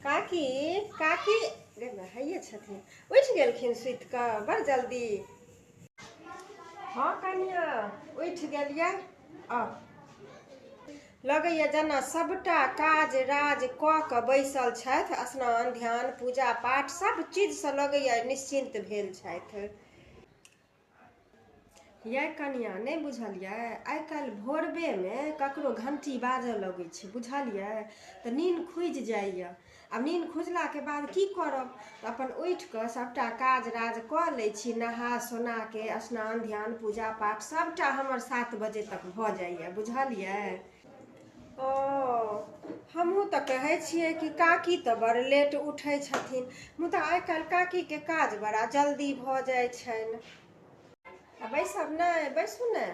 काकी काकी गे माय हइये छथिन उठि गेलखिन सुति कऽ बड़ जल्दी हँ कनिया उठि गेलियै आ लगैया जेना सभटा काज राज कऽ कऽ बैसल छथि स्नान ध्यान पूजा पाठ सभ चीजसँ लगैया निश्चिन्त भेल छथि यै कनियाँ नहि बुझलियै आइ काल्हि भोरबेमे ककरो घण्टी बाजऽ लगै छै बुझलियै तऽ नीन खुजि जाइया आ नीन खुजलाके बाद की करब तऽ अपन उठि कऽ सभटा काज राज कऽ लै छी नहा सोनाके स्नान ध्यान पूजा पाठ सभटा हमर सात बजे तक भऽ जाइया बुझलियै ओ हमहूँ तऽ कहै छियै कि काकी तऽ बड़ लेट उठै छथिन मुदा आइ काल्हि काकीके काज बड़ा जल्दी भऽ जाइ छनि आ बैसब नहि बैसू ने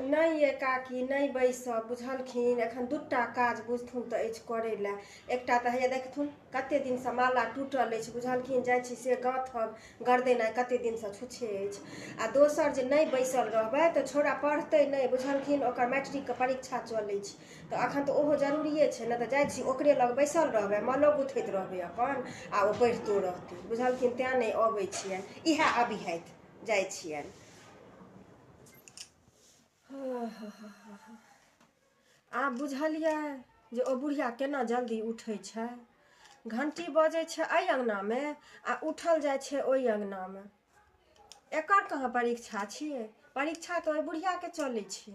नहि ये काकी नहि बैसब बुझलखिन एखन दूटा काज बुझथुन तऽ अछि करै लए एकटा तऽ हैया देखथुन कते दिनसँ माला टूटल अछि बुझलखिन जाइ छी से गाँथब गर्दनि आइ कते दिनसँ छुच्छे अछि आ दोसर जे नहि बैसल रहबै तऽ छौड़ा पढ़तै नहि बुझलखिन ओकर मैट्रिकके परीक्षा चलै छै तऽ अखन तऽ ओहो जरूरिये छै ने तऽ जाइ छी ओकरे लग बैसल रहबै मालो गुथैत रहबै अपन आ ओ पढ़ितो रहतै बुझलखिन तैँ नहि अबै छियनि इएह अबिहथि जाइ छियनि आब बुझलियै जे ओ बुढ़िया केना जल्दी उठै छै घण्टी बजै छै एहि अङ्गनामे आ उठल जाइ छै ओहि अङ्गनामे एकर कहाँ परीक्षा छियै परीक्षा तऽ ओहि बुढ़ियाके चलै छै